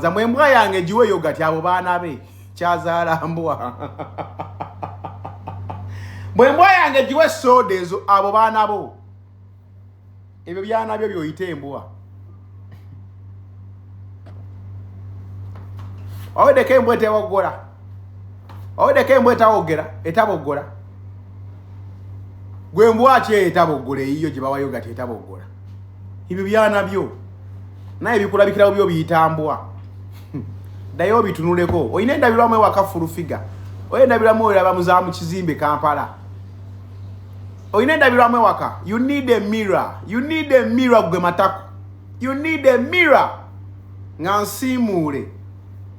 zamwe embwa yange giwe yogati abo baana be kyazaala mbwa bwe mbwa yange giwe sooda ezo abo baana bo ebyo byana byo byoyita embwa owedeko embwa etewoggola owedeko embwa etawogera etaboggola gwe mbwaki eyo etaboggola eyiyo gye bawayo gati etaboggola ebyo byana byo naye bikulabikirawo byo biyitambwa ddayo obitunuleko olina endabirwamu ewaka fulufiga olina endabirwamu olaba muzaamu kizimbe kampala olina endabirwamu ewaka you need a mirror you need a mirror gwe matako you need a mirror nga nsiimuule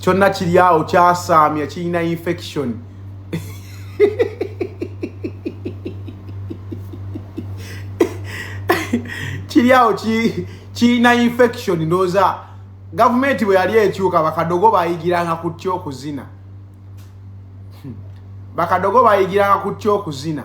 kyonna kiri awo kyasaamya kirina infection kiri awo kirina infection ndooza gavumenti bwe yali ekyuka bakadogo bayigiranga kutya okuzina hmm. bakadogo bayigiranga kutya okuzina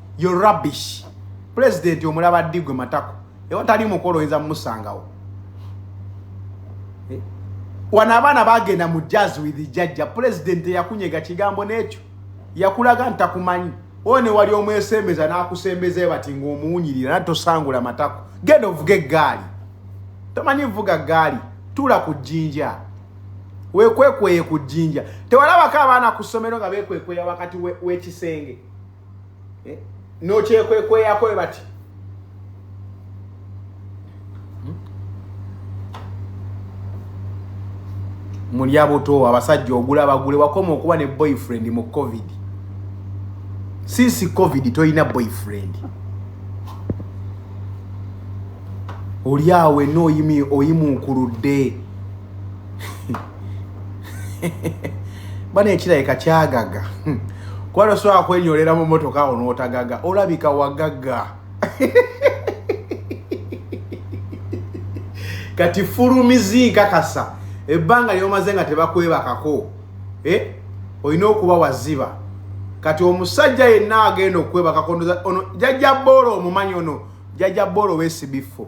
yo rubbish president omulaba digwe matako ewa tali mukolo oyinza mumusangawo eh? wano abaana bagenda mu jazz with jajja president yakunyega kigambo nekyo yakulaga ntakumanyi one wali omwesembeza nakusembeza ebati ngaomuwunyirira nati tosangula matako genda ovuga eggaali tomanyi vuga ggaali tuula ku jjinja wekwekweye ku jjinja tewalabako abaana ku ssomero nga bekwekweya wakati w'ekisenge we, we eh, nokyekwekweyaako we bati hmm? mulya buto abasajja ogula bagule wakoma okuba ne boyfriend mu covid since covid tolina boyfriend olyawo wenna oyimuukuludde bana ekirabika kyagaga hmm. kuba tosobola kwenyolera mu motoka awo n'otagaga olabika wagaga kati fulumizi nkakasa ebbanga lyomaze nga tebakwebakako eh? olina okuba waziba kati omusajja yenna agenda okwebakako ono jajja boola omumanyi ono jajja boola owesibiffo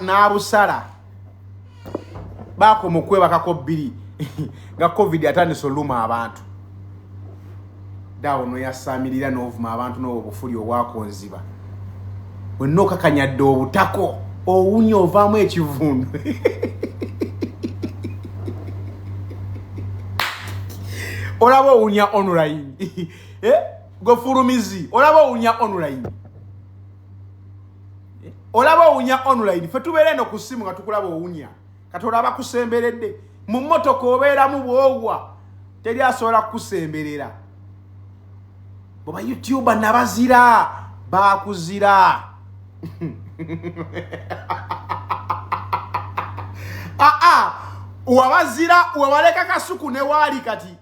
n'abusala baakoma okwebakako bbiri nga covid atandise oluma abantu daawo noyasaamirira n'ovuma abantu n'obwo bufuli obwakonziba wenna okakanyadde obutako owunya ovaamu ekivundu olaba owunya online eh? gwefulumizi olaba owunya online olaba owunya online fe tubeera eno ku ssimu nga tukulaba owunya kati olaba kusemberedde mu mmotoka obeeramu bwogwa teri asobola kukusemberera bwe bayoutuba nabazira bakuzira aa ah, ah, wabazira webaleka kasuku newaali kati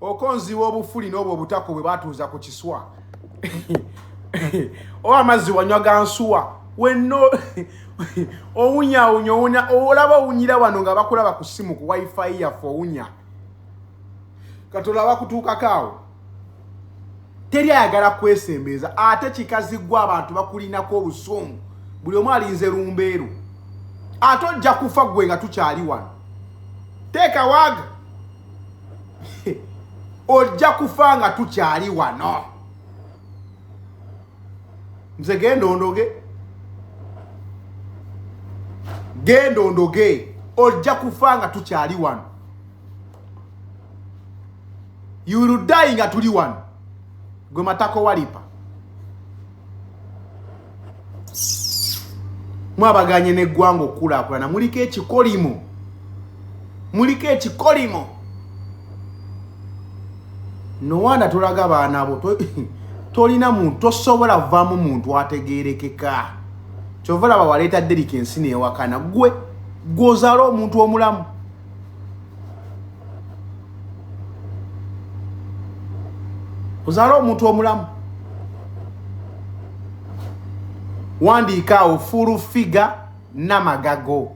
okonziwa obufuli n'obwo obutako bwe batuuza ku kiswa oba amazzi wanywa gansuwa wenno owunyawunya owunya olaba owunyira wano nga bakulaba ku simu ku wifi yaffe owunya kati olaba kutuukako awo teri ayagala kwesembeeza ate kikazi gwe abantu bakulinako obusungu buli omu alinze lumbeeru ate ojja kufa gwe nga tukyali wano teeka waaga ojja kufa nga tukyali wano nze genda ondoge genda ondoge ojja kufa nga tukyali wano yurudayi nga tuli wano gwe matako walipa mwabaganye n'eggwanga okukulaakulana muliko ekikolimo muliko ekikolimo nowaana tolaga baana bo tolina muntu tosobola vaamu muntu ategerekeka kyova laba waleeta derika ensi newakana gwe gwozaala omuntu omulamu ozaala omuntu omulamu wandiika awo fulu figa namagago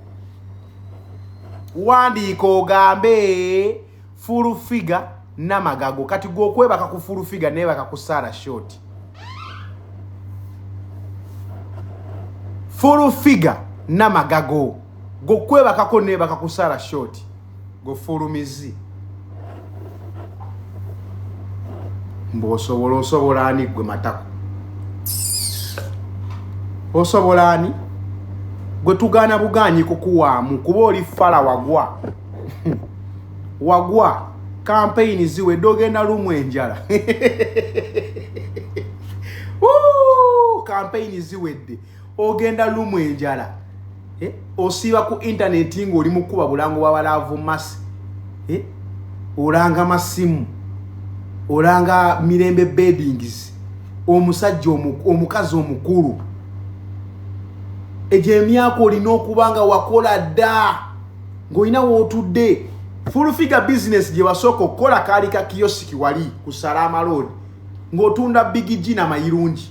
wandiika ogambe fulu figa namagago kati gwe okwebaka ku fulu figa nebaka ku sara short fulu figa namagago gwe okwebakako nebaka kusaala short gwe fuulu mizi mbu osobola osobola ani gwe matako osobola ani gwe tugaana bugaanyi kukuwaamu kuba oli fala wagwa wagwa kampeyini ziwedde ogenda lumu enjala kampeyini ziwedde ogenda lumu enjala eh? osiiba ku intaneti ngaoli mukuba bulango bwabalaavu masi eh? olanga masimu olanga mirembe bedings omusajja omukazi omukulu egyo emyaka olina okuba nga wakola dda ngaolina wootudde fulfiga bisinesi gye wasooka okukola kaali ka kiyosiki wali ku salaama loodi ng'otunda bigiji namayirungi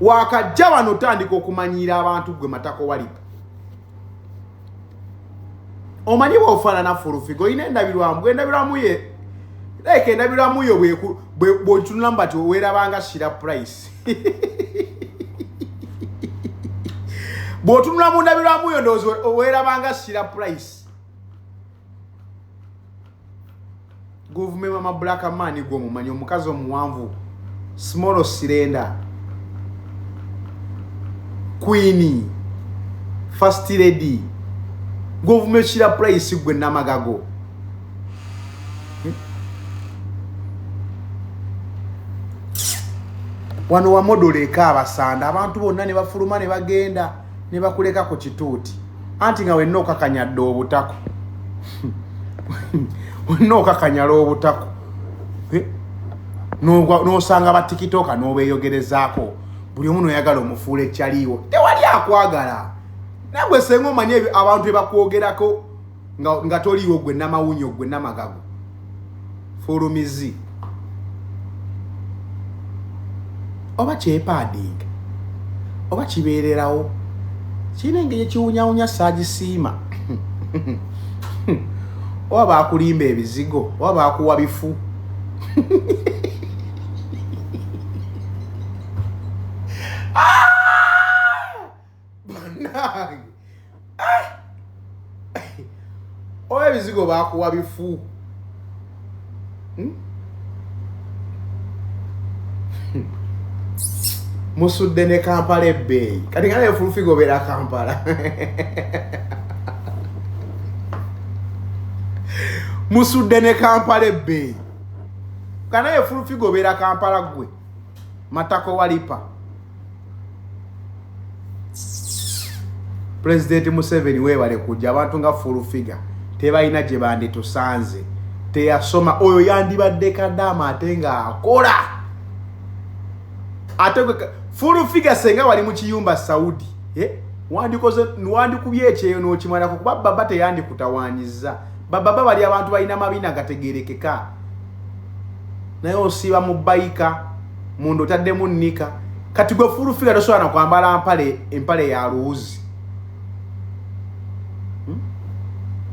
wakajja wano otandika okumanyiira abantu gwe matako walipa omanyi bwofaanana fulufiga olina endabirwamu bwendabirwamu ye like endabirwamu yo bwotunula mu bati owerabanga shira price bwotunula mu ndabirwamu yo ndowooza owerabanga shira price govumenti mama black man gwo mumanyi omukazi omuwanvu small cylinder queen first lady govumenti kira price gwe namagago wano wamodoleka abasanda abantu bonna ne bafuluma ne bagenda ne bakuleka ku kituuti anti nga wenna okakanyadde obutako wenna okakanyala obutako eh? n'osanga batikitooka n'obeeyogerezaako buli omu noyagala omufuula ekyaliiwo tewali akwagala nagwe senga omanye abantu ebakwogerako nga, nga toliiwo gwe namawunyo gwe namagago fulumizi oba kyepading oba kibeererawo kirina engeri ekiwunyawunya saagisiima oba bakulimba ebizigo oba bakuwa bifu banange ah! oba ebizigo bakuwa bifu hmm? musudde ne kampala ebbeeyi kati nga naye fulufiga obeera kampala musudde ne kampala ebbeeyi kanaye fulufiga obeera kampala gwe matako walipa pulezidenti museveni webale kujja abantu nga full figure tebalina gye banditusanze teyasoma oyo yandibadde kadaama ate nga akola ate full figure senga wali mu kiyumba saudi eh? wandikoze wandikubye ekyeyo n'okimalako kuba baba teyandikutawanyiza bababa bali abantu balina mabina gategerekeka naye osiiba mu bayika munda otaddemu nika kati gwe fulufiga tosobola nakwambala mpale empale ya luwuzi hmm?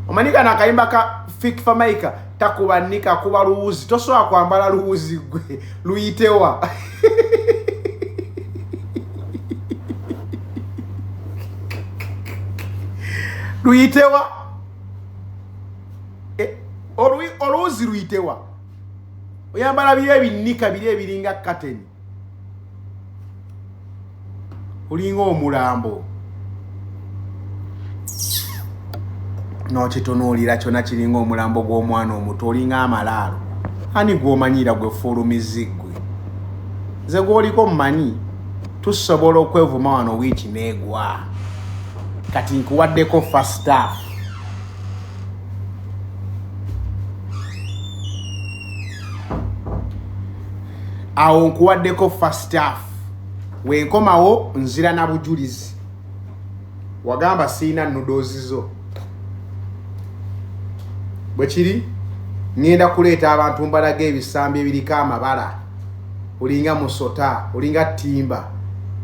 omanyi kana akayimba ka fik famaika takuba nika kuba luwuzi tosobola kwambala luwuzi gwe luyitewa luyitewa e, oluwuzi luyitewa oyambala biri ebinnika biri ebiringa kateni olinga omulambo nokitunuulira kyona kiringa omulambo gw'omwana omuto olinga amalaalo ani gwomanyiira gwe fuulumizigwe nze gwoliko mumanyi tusobola okwevuma wano wiiki neegwa kati nkuwaddeko fastaf awo nkuwaddeko first half wenkomawo nzira na bujulizi wagamba siina nudoozi zo bwe kiri ŋŋenda kuleeta abantu mbalaga ebisambi ebiriko amabala olinga musota olinga timba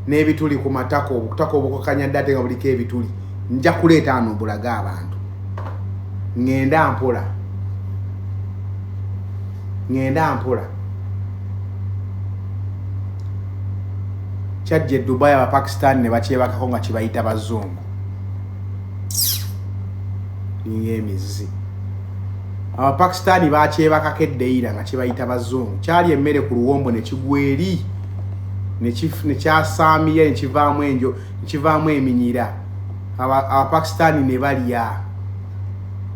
n'ebituli ku matako obutako obukakanya dda ate nga buliko ebituli nja kuleeta ano obulage abantu ŋŋenda mpola ŋŋenda mpola kyajja edubai abapakistan ne bakyebakako nga kibayita bazungu ninga emizzi Abapakistani baakyebakako eddeyira nga kibayita Bazungu. Kyali emmere ku luwombo ne kigwa eri ne kyasaamira ne kivaamu enjo ne kivaamu eminyira. Abapakistani ne balya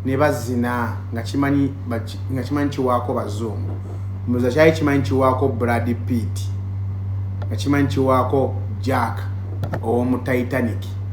ne bazina nga kimanyi nga kimanyi kiwaako Bazungu. Mbuza kyali kimanyi kiwaako Brad Pitt nga kimanyi kiwaako Jack ow'omu Titanic.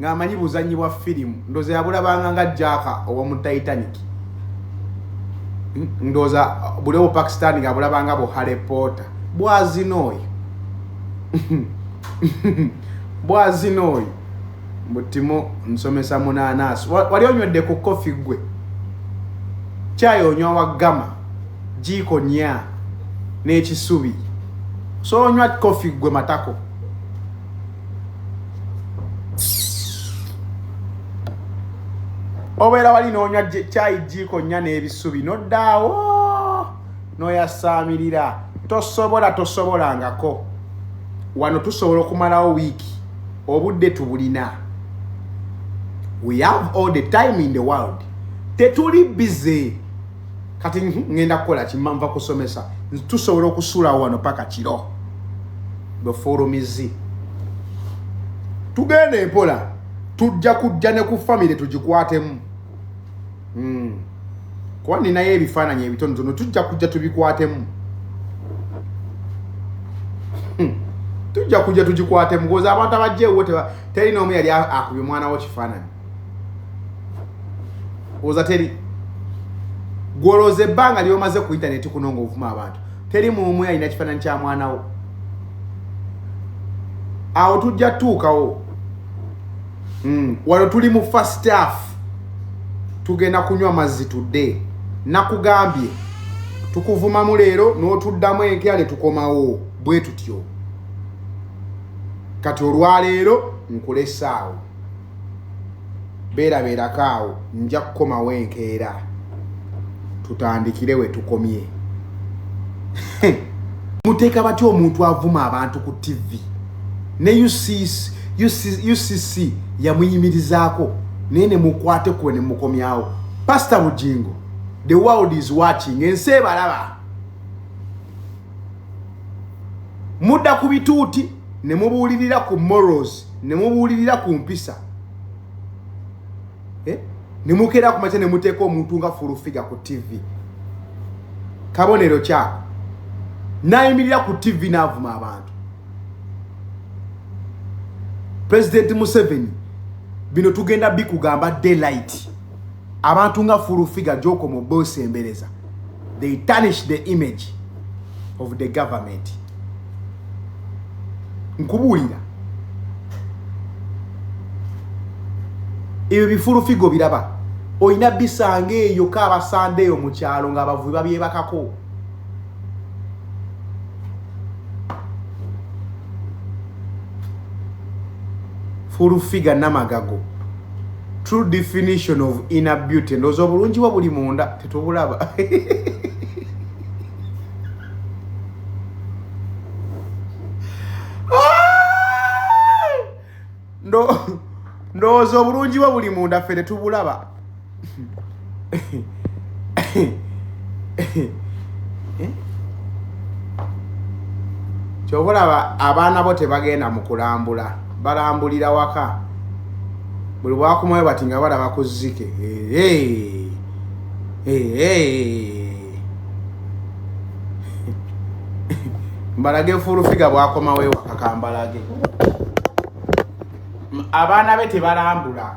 nga amanyi buzanyi bwa firimu ndoza yabulabanga nga jaka owomu titanic ndoza buli obu pakistan nga abulabanga bu harry potter bwazina oyo bwazina oyo butimu nsomesa munanasi wali onywedde ku kofi gwe kyayi onywa wa gama jiiko nya n'ekisubi so onywa kofi gwe matako obeera wali n'onywa kyayi jiiko nnya n'ebisubi noddaawo n'oyasaamirira tosobola tosobolangako wano tusobola okumalawo wiiki obudde tubulina we have all the time in the world tetuli busy kati ngenda kukola kimma nva kusomesa tusobola okusulawo wano paka kiro bwe fulumizi tugenda empola tujja kujja ne ku famire tugikwatemu hmm. kuba ninayo ebifaananyi ebitonotono tujja kujja tubikwatemu hmm. tujja kujja tugikwatemu koza abantu abajja ewo teri n'omu yali akuba omwana wo kifaananyi oza teri gwolooza ebbanga lyomaze ku intaneti kuno nga ovuma abantu teri muumwe alina kifaananyi kya mwana wo awo tujja tutuukawo hmm, wano tuli mu first half tugenda kunywa mazzi tudde nakugambye tukuvumamu leero n'otuddamu enkya ne tukomawo bwe tutyo kati olwaleero nkulesaawo beerabeerako awo nja kukomawo enkeera tutandikire we tukomye muteeka batya omuntu avuma abantu ku tivi ne ucc yamuyimirizaako naye ne mukwate kuwe ne mukomyawo pasita bugingo the world is watching ensi ebalaba mudda ku bituuti ne mubuulirira ku morals ne mubuulirira ku mpisa eh? ne mukeera ku makya ne muteeka omuntu nga fulufiga ku tivi kabonero kyako nayimirira ku tivi n'avuma abantu pulezidenti museveni bino tugenda bikugamba daylight abantu nga full figure gyokoma obeosembereza they tarnish the image of the government nkubuulira ebyo bifulu figo biraba olina bisanga eyo kabasande eyo mu kyalo ngaabavubi babyebakako fulu figa namagago true definition of inner beauty ndoza obulungi bwo buli munda tetubulaba ndowooza obulungi bwo buli munda ffe tetubulaba Kyova olaba abaana bo tebagenda mu kulambula balambulira waka buli bwakomayo bati nga balaba ku zzike mbalage fuulufiga bwakomawo ewaka kambalage abaana be tebalambula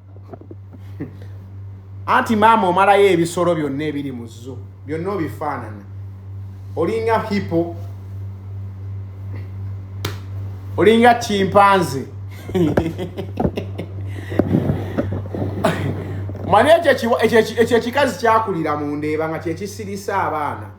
anti maama omalayo ebisolo byonna ebiri mu zo byonna obifaanana olinga hipo olinga kimpanze mani ekyo ekikazi kyakulira mu ndeeba nga kyekisirisa abaana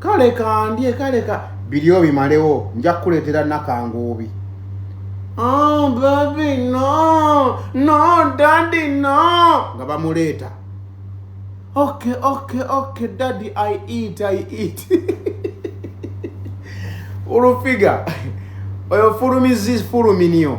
kale kandye kale ka biri obimalewo nja kukuleetera nakanguubi oh, baby no no daddy no nga bamuleeta okay okay okay daddy i eat i eat olufiga oyo fulumizifuluminio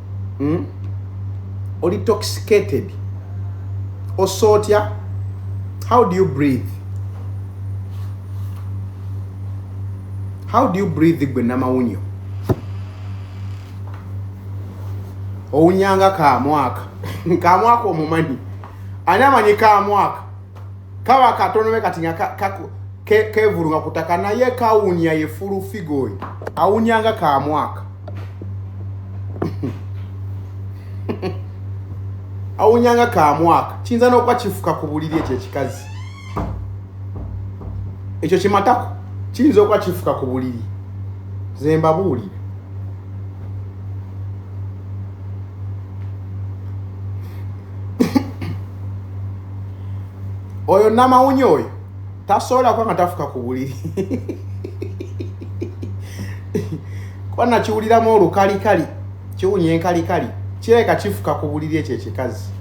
hmm? oli toxicated ossa otya how do you breathe how do you breathe gwe namawunyo owunyanga kamwaka kamwaka omumanyi ani amanyi kamwaka kaba katonome kati nga kevulunga kutaka naye kawunya ye fulu figa oyo awunya nga ka mwaka awunya nga ka mwaka kiyinza n'okuba kifuka ku buliri ekyo ekikazi ekyo kimatako kiyinza okuba kifuka ku buliri zembabuulire oyo namawunya oyo tasobola kuba nga tafuka ku buliri kuba nakiwuliramu olukalikali kiwunya enkalikali kireka kifuka ku buliri ekyo ekikazi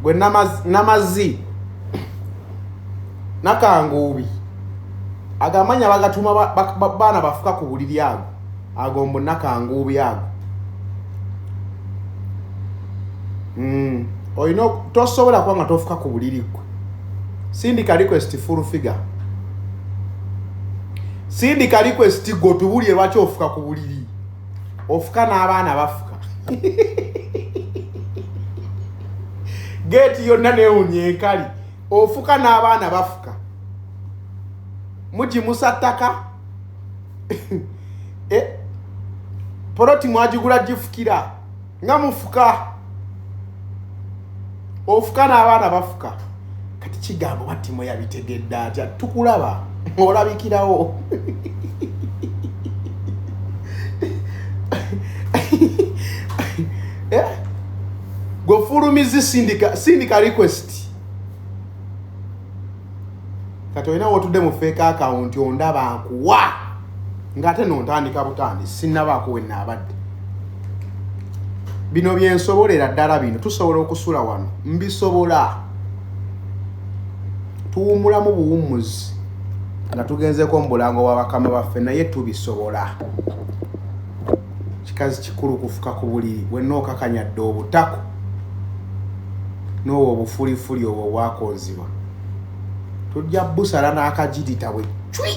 gwe namazi nakanguubi ago amanya bagatuma baana bafuka ku buliri ago ago mbu nakanguubi ago mm. olina tosobola kuba nga tofuka ku buliri gwe sindika request full figure sindika request gotubulire lwaki ofuka ku buliri ofuka n'abaana bafuka geeti yonna neewunya enkali ofuka n'abaana bafuka mugimusa ttaka eh, poloti mwagigula gifukira nga mufuka ofuka n'abaana bafuka kati kigambo batimo yabitegedde atya tukulaba olabikirawo eh? gwefulumizi sindika request kati olina wotudde mu feeka akawunti ondaba nkuwa ngaate nontandika butandi sinabaako wenaabadde bino byensobolera ddala bino tusobola okusula wano mbisobola tuwumulamu buwummuzi nga tugenzeko mu bulango bwa bakama baffe naye tubisobola kikazi kikulu kufuka ku buliri wenna okakanyadde obutako n'owo obufulifuli obwo obwakonzibwa tujja busala n'akagirita bwe cwi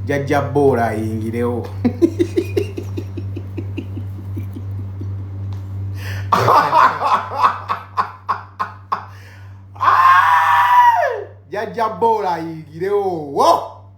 jajja boola ayingirewo jajja boola ayingirewo wo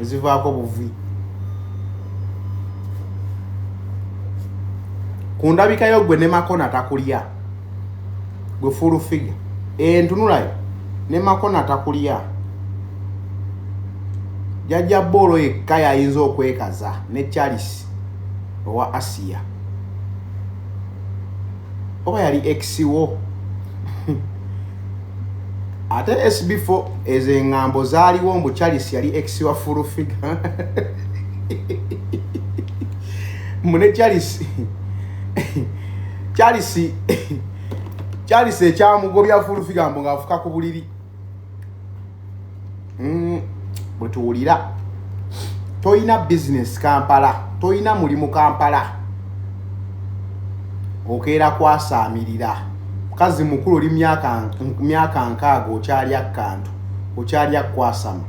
ezivaako buvi ku ndabika yo gwe ne makona takulya gwe full figure entunulayo ne makona takulya jajja boolo yekka yayinza okwekaza ne charles owa asiya oba yali ex wo ate sb4 ezo engambo zaaliwo mbu charles yali ex wa full figure mune charles charles charles ekyamugobya full figure mbu ngaafuka ku buliri mm, bwetuwulira tolina bizinesi kampala tolina mulimu kampala okeera kwasaamirira mukazi mukulu oli myaka nkaaga okyalya kantu okyalya kwasama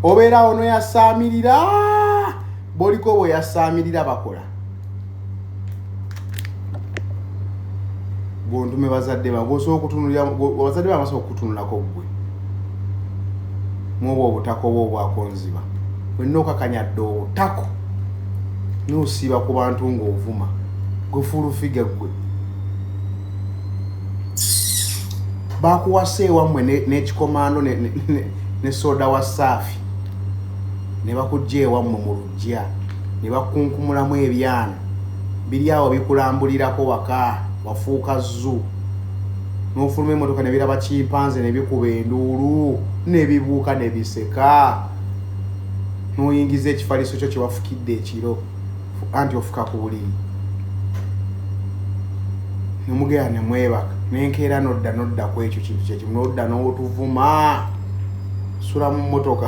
obeera ono yasaamirira boliko bwe yasaamirira bakola gwontume bazadde ba gwosobola okutunulira abazadde ba basobola okukutunulako ggwe mwobwa obutako oba obwakonziba wenna okakanya dde obutako nosiiba ku bantu ng'ovuma gwefulufiga ggwe bakuwasa ewammwe n'ekikomando ne soda wa saafi ne bakugja ewammwe mu Jja ne bakukunkumulamu ebyana biri awo bikulambulirako waka wafuuka zoo n'ofuluma emmotoka ne biraba kimpanze ne bikuba enduulu ne bibuuka ne biseka n'oyingiza ekifaliso kyo kye wafukidde ekiro anti ofuka ku buliri ne mugenda ne mwebaka nenkeera nodda nodda ku ekyo kintu kyekimu nodda n'otuvuma sula mu mmotoka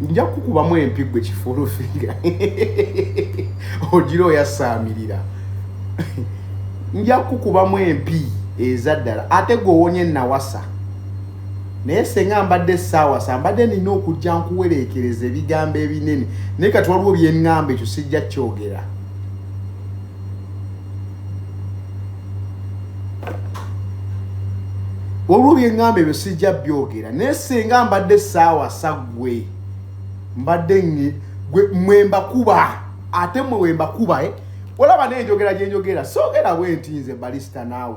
nja kukubamu empi gwe kifulufiira ogira oyasaamirira nja kukubamu empi eza ddala ate gwowonye nawasa naye senga mbadde saawasa mbadde nina okujja nkuwereekereza ebigambo ebinene naye kati waliwo byeŋŋamba ekyo sijja kyogera waliwo byeŋŋamba ebyo sijja byogera naye singa mbadde saawa saggwe mbadde mwe mbakuba ate mwe wembakuba eh? olaba nenjogera gyenjogera soogera bwe nti nze balisita naawe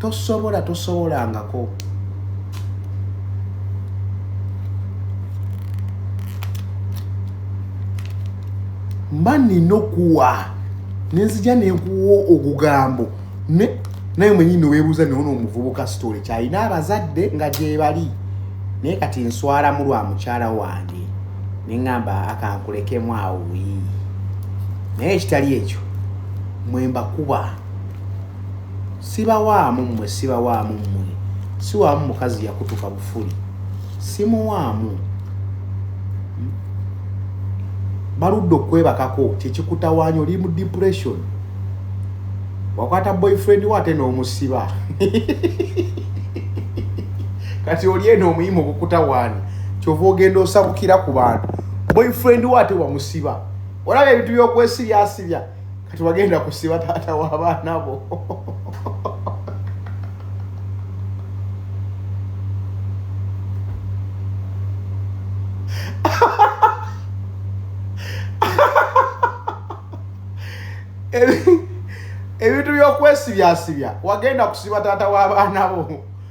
tosobola tosobolangako mba nina okuwa nenzija nenkuwa ogugambo naye mwenyini webuuza newona omuvubuka sitole kyalina abazadde nga gyebali naye kati nswalamu lwa mukyala wange neŋamba akankulekemu awo naye ekitali ekyo mwembakuba sibawaamu mmwe sibawaamu mmwe siwaamu mukazi yakutuka bufuli simuwaamu hmm? baludde okwebakako kyekikutawaanya oli mu depression wakwata boyfriend wo ate n'omusiba kati oli eno omuyimu okukutawaanya kyova ogenda osabukira ku bantu boyfriend wo ate wamusiba olaba ebintu byokwesibyasibya kati wagenda kusiba taata w'abaana bo ebintu by'okwesibyasibya wagenda kusiba taata w'abaana bo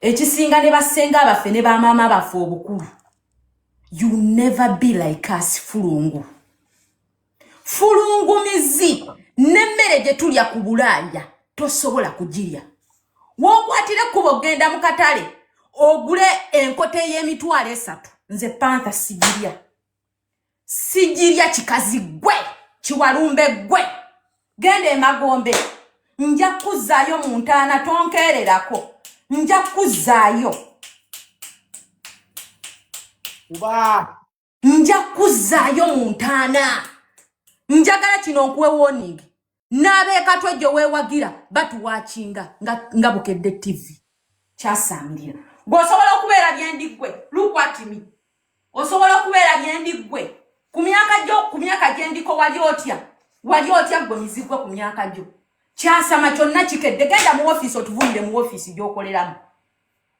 ekisinga ne basenga baffe ne bamaama baffe obukulu you never be like us fulungu fulungumizi nemmere gye tulya ku bulaaya tosobola kugirya wokwatire kuba ogenda mu katale ogule enkota ey'emitwalo esatu nze pantha sigirya sijirya kikazi gwe kiwalumbe gwe genda emagombe nja kuzaayo mu ntaana tonkeererako nja kuzaayo oba nja kuzaayo mu ntaana njagala kino nkuwe woningi n'abeekatwe gye weewagira batuwakinga nga bukedde ttivi kyasaamirira gwe osobola okubeera byendi ggwe lukwatimi osobola okubeera byendi ggwe ku myaka gyo ku myaka gyendiko wali otya wali otya ggwe mizigwe ku myaka gyo kyasama kyonna kikedde genda mu ofiisi otuvuyire mu ofiisi gy'okoleramu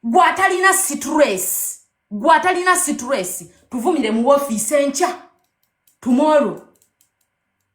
gwe atalina situreesi gwe atalina situreesi tuvumire mu ofiisi enkya tumoro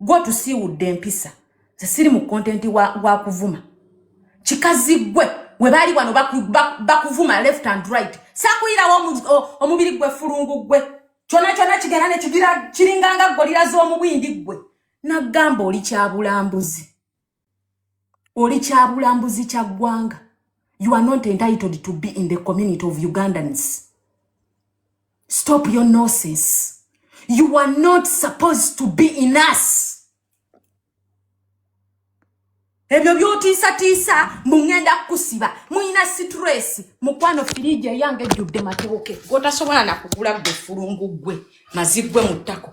gwe otusiiwudde empisa ze siri mu kontenti wa kuvuma kikazi gwe we baali wano bakuvuma left and right sakuyirawo omubiri gwe fulungu gwe kyona kyona kigenda ne kigira kiringanga golira z'omubwindi gwe nagamba oli kyabulambuzi oli kyabulambuzi kya ggwanga you are not entitled to be in the community of ugandans stop your noses you are not supposed to be in us ebyo byotiisatiisa mungenda kukusiba mulina situreesi mukwano firiiji eyange ejjudde matewoke gotasobola nakugula gwe fulungu gwe maziggwe mu ttako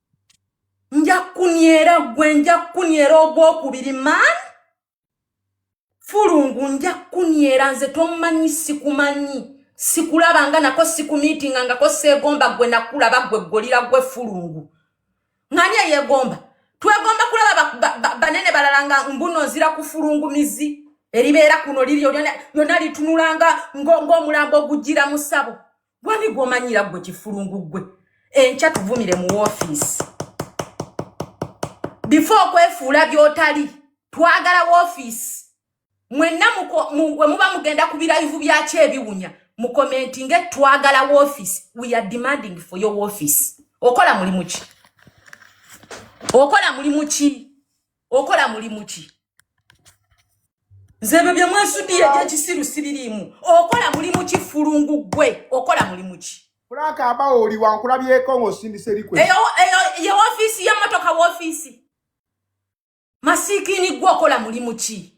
nja kkunyera ggwe nja kkunyera ogwokubiri man fulungu nja kkunyera nze tomanyi sikumanyi sikulaba nga nako sikumiitinga ngako seegomba ggwe nakulaba ggwe ggolira ggwe fulungu ngani eyegomba twegomba kulaba banene balala nga mbuno nzira kufulungu mizi eribeera kuno liri lyona litunulanga ng'omulambo ogujjira mu ssabo wani gwomanyira gwe kifulungu gwe enkya tuvumire mu woofiisi bifo okwefuula byotali twagala woofiisi mwenna we muba mugenda ku birayivu byakyo ebiwunya mukomenti nge twagala woofiisi we are demanding for your woofiisi okola mulimu ki okola mulimu ki okola mulimu ki nze ebyo bye mwesuddiye gyekisiru sibiriimu okola mulimu ki fulungu gwe okola mulimu ki kulaka abawo oli wankulabyeko ng'osindisa erikwe ye ofiisi y'emmotoka woofiisi masiikiini gwe okola mulimu ki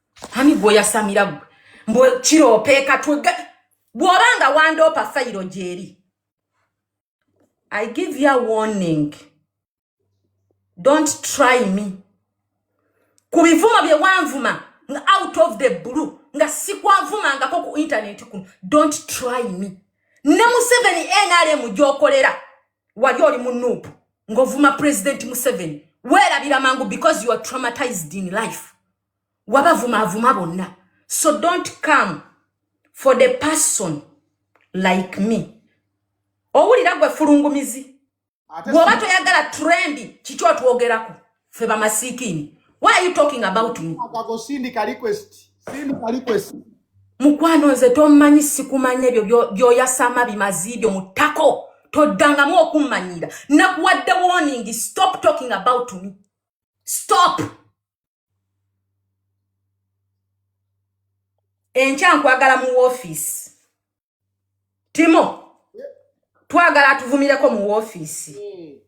ani gwoyasamira gwe mbu kiroopeeka twega bw'oba nga wandoopa fayiro gyeri i give ya warning don't try me ku bivumo bye wanvuma nga out of the blue nga sikwanvumangako ku intaneti kuno don't try me ne museveni nrm gyokolera wali oli mu nuupu ng'ovuma pulezidenti museveni weerabira mangu because you are traumatized in life wabavuma avuma bonna so don't come for the person like me owulira gwe fulungumizi bwoba toyagala trendi kiki otwogerako fe bamasiikini why are you talking about me mukwano nze tommanyi sikumanya ebyo byoyasama bimazi ibyo mutako toddangamu okummanyira nakuwadde warning stop talking about me stop enkya nkwagala mu woofiisi timo twagala atuvumireko mu woofiisi hmm.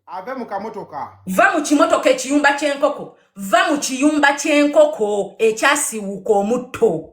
ave mu kamotoka va mu kimotoka ekiyumba ky'enkoko va mu kiyumba ky'enkoko ekyasiwuuka omutto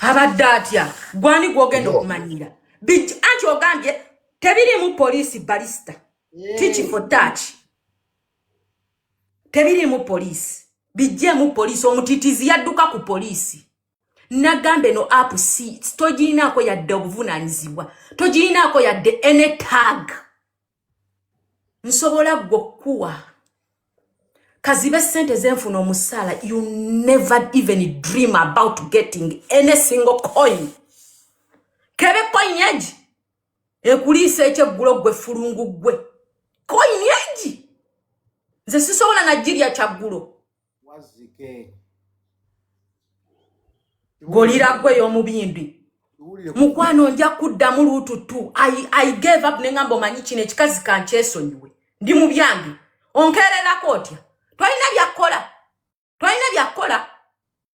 abadde atya gwani gwogenda okumanyira big anti ogambye tebirimu poliisi balista tiki mm. for touch tebirimu poliisi bijjemu poliisi omutitizi yadduka ku poliisi nagamba eno app si togirinaako yadde obuvunanyizibwa togirinaako yadde ene tag nsobola gwe okukuwa kazibe sente zenfuna omusaala you never even dream about getting any single coin kebe coin egi ekuliisa ekyeggulo gwe fulungu gwe coin egi nze sisobola nagirya kyaggulo golira gwe y'omubindi mukwano nja kuddamu luutu tu i gave up ne ngamba omanyi kino ekikazi kankyesonyiwe ndi mu byange onkeererako otya tolina byakkola tolina byakkola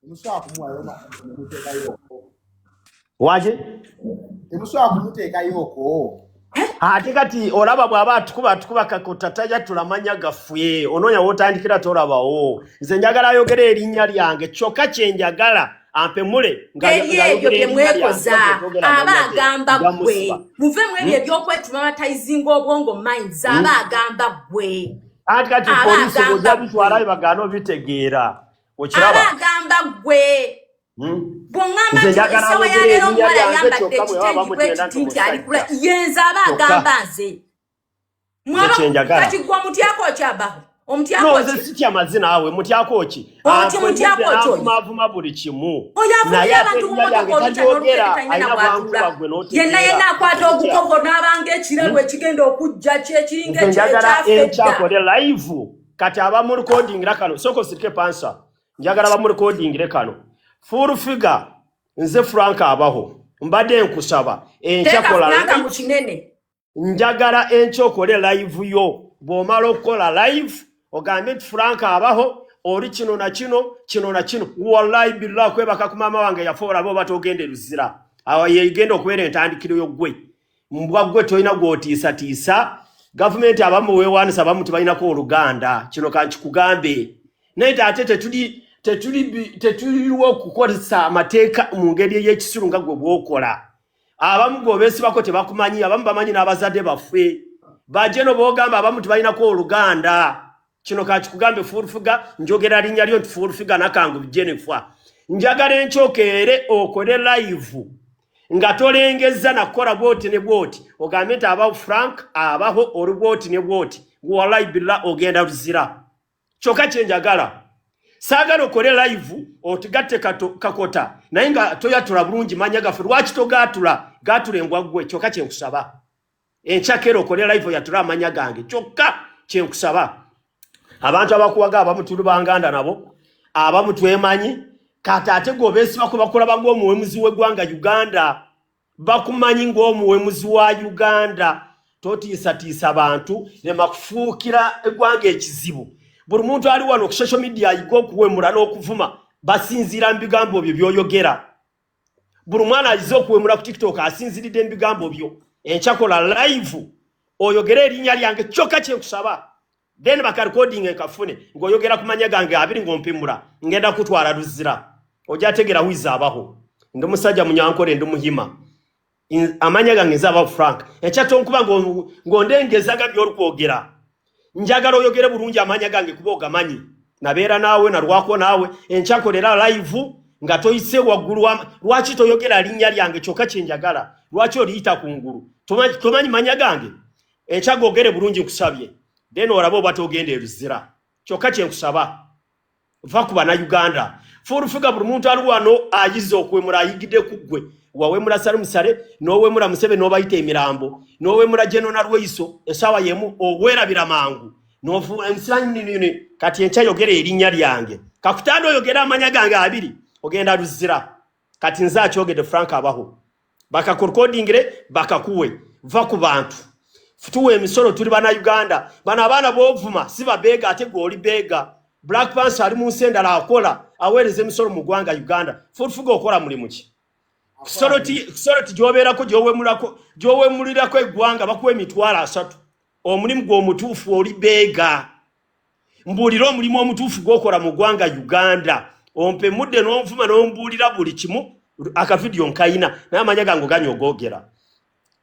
temusobola kumuwayo nemuteekayooko waki temusobola kumuteekayooko ate kati olaba bw'aba atukuba atukuba kakutta tajja tulamanya gaffe onoonya w'otandikira tolabawo nze njagala ayogera erinnya lyange kyokka kye njagala ampemule ebyo bye mwekoza aba agamba ggwe muve mu ebyo hmm? ebyokwetuma batayizinga obwongo minds hmm? aba agamba ggwe ati kati polisi bojabitwalayo bagaana obitegeera okiraba agamba gwe hmm? bwongamba nti esawa ya leero omuwala ayambadde ekitengi bwekiti nti alikula yenze aba agamba nze kati gwe omutyako okyabaho omutyakosityamazi naawe mutyakooki mavuma ah, buli kimu yenna yenna akwata ogukogo n'abanga ekirabo ekigenda okujja kyekiringa ekyakola live kati abamu recording la kano soko sirike pansa njagala abamu recording le kano full figure nze frank abaho mbadde nkusaba enkyakola njagala enkya okole live yo bw'omala okukola live ogambye nti frank abaho oli kino na kino kino na kino wallahi billah kwebaka ku maama wange yafa olaba oba togenda eruzira awo yegenda okubeera entandikiro yoggwe mbwa gwe tolina gwotiisatiisa gavumenti abamu wewanisa abamu tebalinako oluganda kino kankikugambe naye te ate tetuli tetuliwo okukozesa amateeka mu ngeri ey'ekisiru nga gwe bwokola abamu gweobesibako tebakumanyi abamu bamanyi n'abazadde baffe bajeno bogamba abamu tebalinako oluganda kino kakikugambe fuulfiga njogera linnya lyo nti fuulfiga nakangu jennifer njagala enkyokeere okole layivu nga tolengezza nakukola bwoti ne bwoti ogambe nti abawo frank abaho oli bwoti ne bwoti walayi billa ogenda luzira kyokka kyenjagala saagala okole layivu otugatte kakota naye nga toyatula bulungi manya gaffe lwaki togaatula gaatula engwaggwe kyokka kyenkusaba enkyakera okole live oyatula amanya gange kyokka kyenkusaba abantu abakuwaga abamu tuli banganda nabo abamu twemanyi kati ate gobesiba kwebakulaba ngaomuwemuzi wegwanga uganda bakumanyi ngaomuwemuzi wa uganda totiisatiisa bantu nemakufuukira egwanga ekizibu buli muntu ali wano ku social media ayiga okuwemula n'okuvuma basinziira mu bigambo byo byoyogera buli mwana ayize okuwemula ku tiktok asinziridde mubigambo byo enkyakola live oyogere erinya lyange kyoka kyenkusaba then bakarecording enkafune ngaoyogera ku manya gange abiri ngaompimula ngenda kutwala luzira ojategera wiza abaho ndi musajja munyankole ndi muhima amanya gange nze abawo frank ekyatonkuba ng'ondengezaga by'olikwogera njagala oyogere bulungi amanya gange kuba ogamanyi nabeera naawe nalwako naawe enkyakolera live nga toyise waggulu lwaki toyogera linnya lyange kyokka kyenjagala lwaki oliyita ku ngulu tomanyi manya gange enkyagoogere bulungi nkusabye then olaba oba togenda eruzira kyokka kyenkusaba va ku banauganda fulufiga buli muntu ali wano ayiza okuwemula ayigide ku ggwe wawemula sale musale nowemula musebe nobayita emirambo nowemula jenona lweiso esawa yemu owerabira mangu nosilanyinyini kati enkya yogera erinnya lyange kakutanda oyogera amanya gange abiri ogenda luzira kati nze akyogedde frank abaho bakakurkodingire bakakuwe va ku bantu tuwa emisolo tuli bana uganda bano abaana bovuma si babeega ate gwe oli beega black pans ali mu nsi endala akola aweereza emisolo mu ggwanga uganda futufuga okola mulimu ki kusoloti gyobeerako gyowemulirako eggwanga bakuwa emitwalo asatu omulimu gwomutuufu oli beega mbuulira omulimu omutuufu gwokola mu ggwanga uganda ompe mudde n'onvuma n'ombuulira buli kimu akavidiyo nkayina naye amanya gange oganya ogogera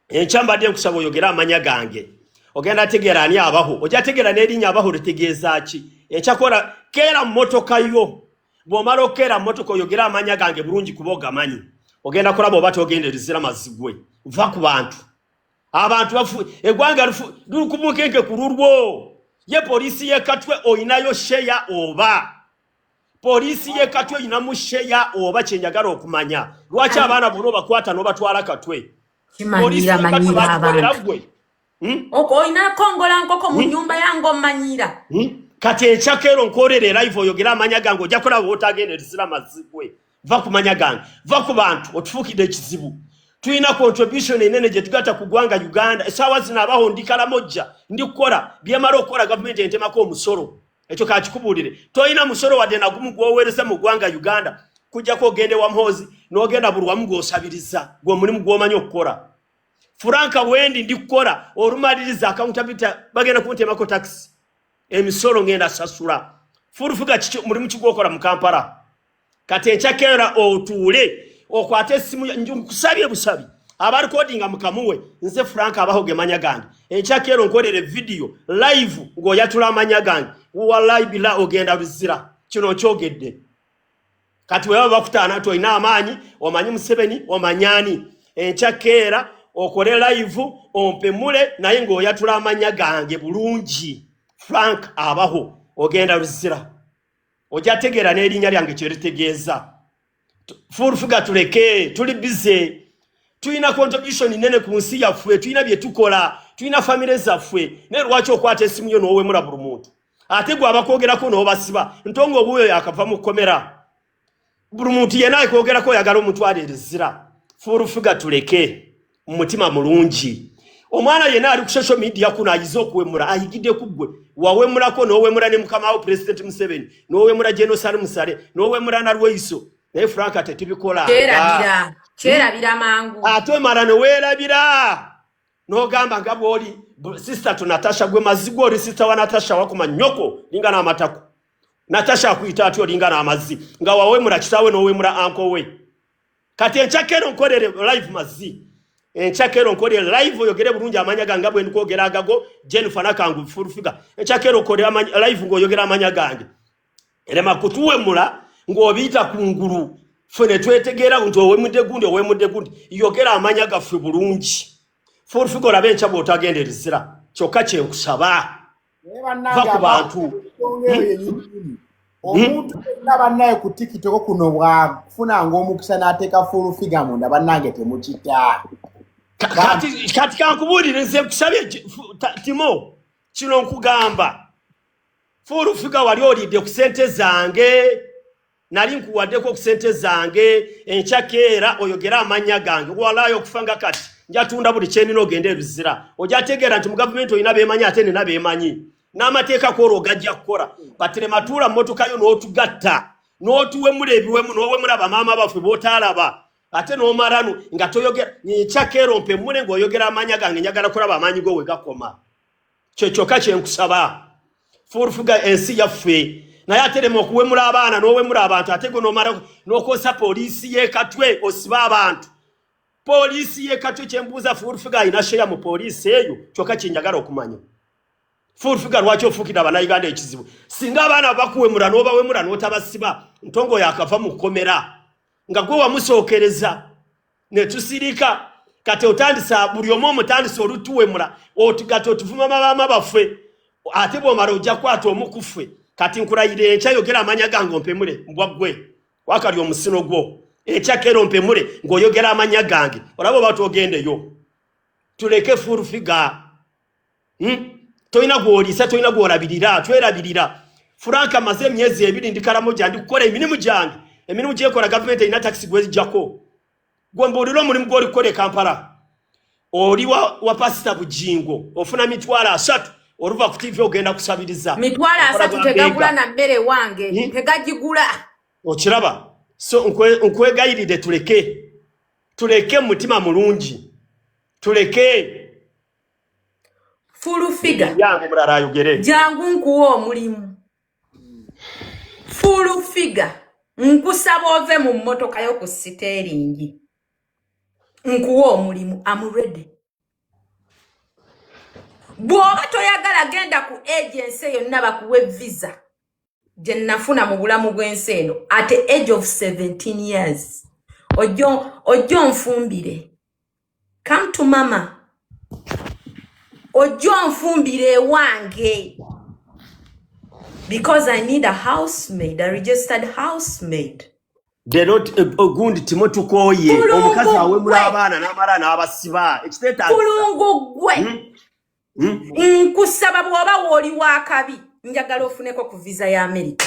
enkya mbadde nkusaba oyogere amanya gange ogenda ategeera ani abaho ojja ategeera n'erinnya abaho litegeeza ki enkyakola keera mmotoka yo bw'omala okeera mmotoka oyogere amanya gange bulungi kuba ogamanyi ogenda kulaba oba togenda erizira mazigwe va ku bantu abantu bafu egwanga lufu lukumukenke kululwo ye polisi ye katwe oyinayo sheya oba polisi ye katwe oyina mu sheya oba kyenjagala okumanya lwaki abaana bono bakwata nobatwala katwe kimanyira manyira abantu hmm? oko oyina kongola nkoko mu hmm? nyumba yange omanyira hmm? kati ekyakero nkorere live oyogera amanya gange ojakola wotagenda erisira mazigwe va ku manya gange va ku bantu otufuukidde ekizibu tulina contribution enene gye tugata ku ggwanga uganda esaawa zino abaho ndi kalamojja ndi kukola byemala okukola gavumenti entemako omusolo ekyo kakikubuulire tolina musolo wadde nagumu gwoweereza mu ggwanga uganda kujjako ogende wa mhozi n'ogenda buli wamu gwosabiriza gwe mulimu gwomanyi okukola furanka wendi ndi kukola olumaliriza akauntabita bagenda kuntemako takisi emisolo ngenda sasula fulufuga mulimu kigwokola mu kampala kati ekyakera otuule okwate esimu nkusabye busabi abalikodinga mukamuwe nze frank abaho gemanya gange ekyakero nkolere vidiyo live ngaoyatula amanya gange walayi bila ogenda luzira kino nkyogedde kati weba bakutaana ti olina amaanyi omanyi museveni omanyani enkyakeera okole live ompemule naye ngaoyatula amanya gange bulungi frank abaho ogenda luzira ojja tegeera n'erinnya lyange kye litegeeza fuulfuga tuleke tuli bize tulina contribution nene ku nsi yaffe tulina bye tukola tulina famire zaffe naye lwaki okwata esimu yo n'owemula buli muntu ate gwe abakwogerako n'obasiba ntonga obuuyo yakava mu kkomera buli muntu yena ayikwogerako oyagala omutwala erizira furufuga tuleke mumutima mulungi omwana yena ali ku social media kuno ayize okuwemura ayigide kugwe wawemurako nowemura ne mukama awo president museveni nowemura genosari musale nowemura nalweiso naye frank ate tubikola kyerabira mangu ate omala newerabira nogamba nga bwoli sister to natasha gwe mazigwe oli sister wa natasha wakuma nyoko lingana amatako natasha akuyita atya olinga n'amazzi nga wawemula kitaawe n'owemula anko we kati enkyakero nkolere live mazzi enkyakero nkolere live oyogere bulungi amanya gange bwe ndikwogera agago jennifer nakangu full figure enkyakero okolere live ng'oyogera amanya gange erema kutuwemula ng'obiyita ku ngulu ffe ne twetegeera nti owemudde gundi owemudde gundi yogera amanya gaffe bulungi full figure olabe enkya bw'otagenda erizira kyokka kyenkusaba naye bannange omuntu yenna bannaye ku tikitoko kuno bwafunanga omukisa n'ateeka fuulufiga munda bannange temukita kati kankubuulire nze nkusabye timo kino nkugamba fuulufiga wali olidde ku sente zange nali nkuwaddeko ku sente zange enkyakeera oyogere amannya gange walaayo okufa nga kati njatunda buli kyenina ogende ebizira ojategeera nti mu gavumenti olina bemanyi ate nina bemanyi n'amateeka kwolwo ogajja kukola batirematuula mmotoka yo n'otugatta n'otuwemula ebiwemu n'owemula bamaama baffe b'otaalaba ate n'omalanu nga toyogera nkyakeera ompe mule ng'oyogera amaanyi gange njagala kulaba amaanyi go we gakoma kye kyokka kye nkusaba fuurufuga ensi yaffe naye aterema okuwemula abaana n'owemula abantu ate gwe nomala n'okosa poliisi y'ekatwe osiba abantu poliisi y'ekatwe kye mbuuza fuurufuga alina sheya mu poliisi eyo kyokka kye njagala okumanya fuurufuga lwaki ofuukira abanauganda ekizibu singa abaana bakuwemula n'obawemula n'otabasiba ntongo yakava mu kkomera nga gwe wamusookereza ne tusirika kati otandise buli omu omutandise olutuwemula oti kati otuvuma mabaama baffe ate bwomala ojja kwata omu ku ffe kati nkulayira enkya yogera amanya gange ompemule mbwa ggwe wakali omusino gwo ekyakero mpemule ng'oyogera amanya gange olaba oba twogendeyo tuleke full figure Hmm? tolina gwoliisa tolina gwolabirira twerabirira franka maze emyezi ebiri ndi karamoja ndi kukola emirimu gyange emirimu gyekola gavumenti erina takisi gwezijjako gwe mbuulira omulimu gwoli kukola e kampala oli wa, wa pasita bujingo ofuna mitwalo asatu oluva ku tivi ogenda kusabiriza mitwalo asatu tegagula na mmere wange hmm? tegagigula okiraba so nkwegayiride tuleke tuleke mu mutima mulungi tuleke fulufiga jangu nkuwa omulimu fulufiga nkusaba ove mu mmotoka yo ku siteeringi nkuwa omulimu amuredi bw'oba toyagala genda ku agensi yonna bakuwe visa gye nafuna mu bulamu bw'ensi eno at age of 17 years ojjo onfumbire come to mama ojja onfumbira ewange because i need a housemaid a registered housemaid lero eh, ogundi oh, timo tukoye omukazi awemula abaana n'amala n'abasiba ekitekulungu gwe hmm? Hmm? nkusaba bw'oba wooli w'akabi njagala ofuneko ku viza ya amerika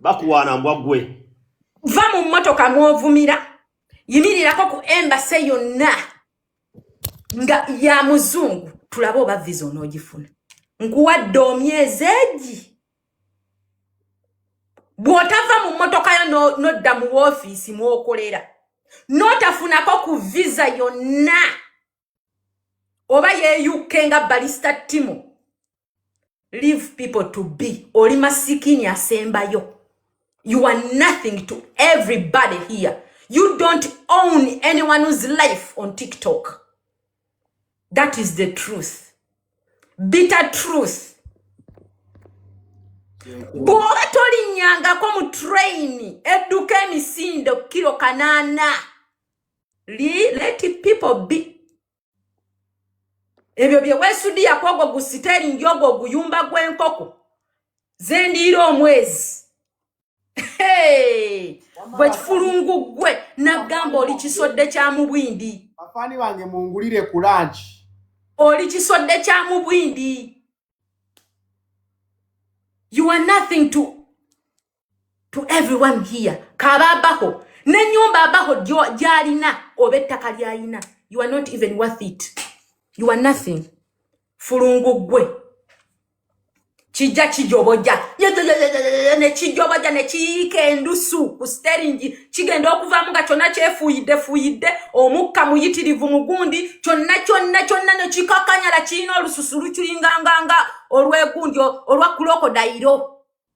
bakuwaana mbwa gwe va mu mmotoka mwovumira yimirirako ku embase yonna nga ya muzungu tulabe oba viza onoogifuna nkuwadde omyezi egi bw'otava mu mmotoka yo n'odda mu woofiisi mw'okolera n'otafunako ku viza yonna no oba yeyukke nga balista timu leave people to be oli masikini asembayo you are nothing to everybody here you don't own anyone who's life on tiktok that is the truth bitter truth bwoba tolinyangako mu traini edduka emisinde kukiro kanaana let people be ebyo bye weesudiya ku ogwo gu siteringi ogwo oguyumba gw'enkoko ze ndiira omwezi gwe kifulungu gwe naggamba oli kisodde kya mubwindi afaani bange mungulire ku lanki oli kisodde kya mubwindi you are nothing to to everyone here kaba abaho nenyumba abaho gyalina oba ettaka lyalina you are not even worth it you are nothing fulungu gwe kijja kijoboja nekijoboja nekiyiika endusu ku steringi kigenda okuvamu nga kyonna kyefuuyidde fuuyidde omukka muyitirivu mugundi kyonna kyonna kyonna nekikakanyala kirina olususu lukiringanganga olwegundi olwa kulokodayiro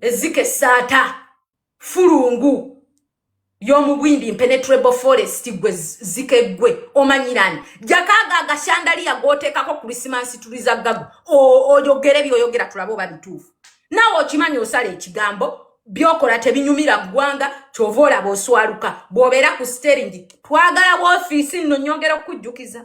ezika esaata fulungu yomubwindi impenetrable forest gwe zika eggwe omanyirani jakaaga agashandaliya gooteekako kurisimansi tuliza gago oyogere byoyogera tulabe oba bituufu nawe okimanyi osala ekigambo byokola tebinyumira ggwanga kyova olaba oswaluka bwobeera ku steringi twagala wofiisi nno nyongera okukujjukiza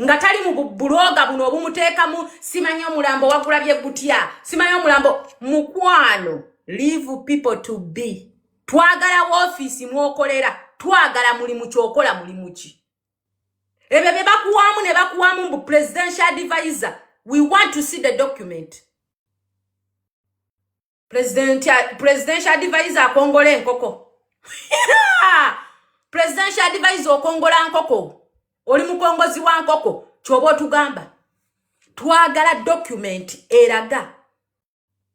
nga tali mu buloga buno obumuteekamu simanyi omulambo wagulabye gutya simanyi omulambo mukwano leave people to be twagala woofiisi mwokolera twagala mulimu kyokola mulimu ki ebyo bye bakuwamu ne bakuwamu mbu presidential advisor we want to see the document presidential advisor akongola enkoko presidential advisor okongola nkoko oli mukongozi wa nkoko kyoba otugamba twagala document eraga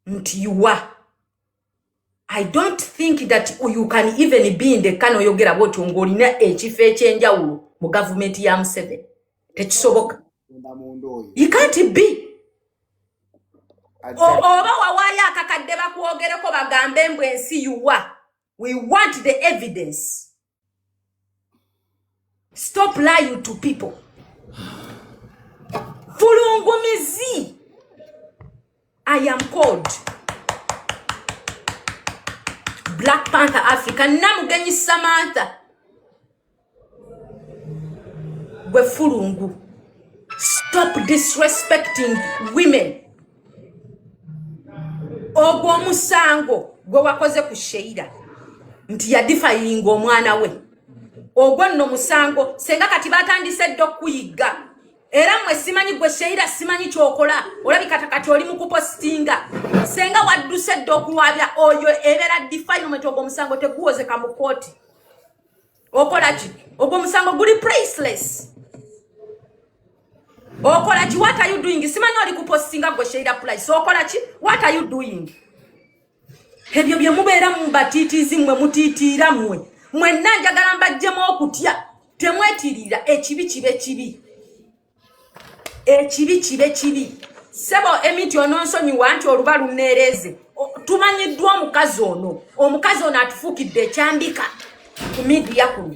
nti yuwa i don't think that you can even be in the kano oyogera bwotyo ngaolina ekifo ekyenjawulo mu gavumenti ya museveni tekisoboka ikanti bi oba wawaayo akakadde bakwogereko bagambe mbu ensi yuwa we want the evidence stop lying to people fulungumizi I am called Black Panther Africa namugenyi Samantha gwe fulungu stop disrespecting women ogwo omusango gwe wakoze ku sheira nti yadifayinga omwana we ogwo nno musango senga kati batandise dda okuyigga era mwe simanyi gwe sheira simanyi kyokola olabika kati oli mukupositinga senga wadduse dda okuwabya oyo ebeera defilement ogwo omusango teguwozeka mu kooti okola ki ogwo omusango guli priceless okola ki what are you doing simanyi oli kupositinga gwe sheira price okola ki what are you doing ebyo bye mubeera mu batiitiizi mmwe mutiitiira mmwe mwenna njagala mbajjemu okutya temwetirira ekibi kibe kibi ekibi kibe kibi sebo emiti ononsonyiwa nti oluba luneereeze tumanyiddwa omukazi ono omukazi ono atufuukidde ekyambika ku midiya kuno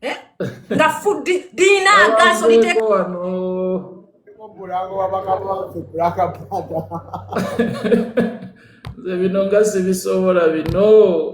eh? nga fuddi lirina agaaso liteeka nze bino nga sibisobola bino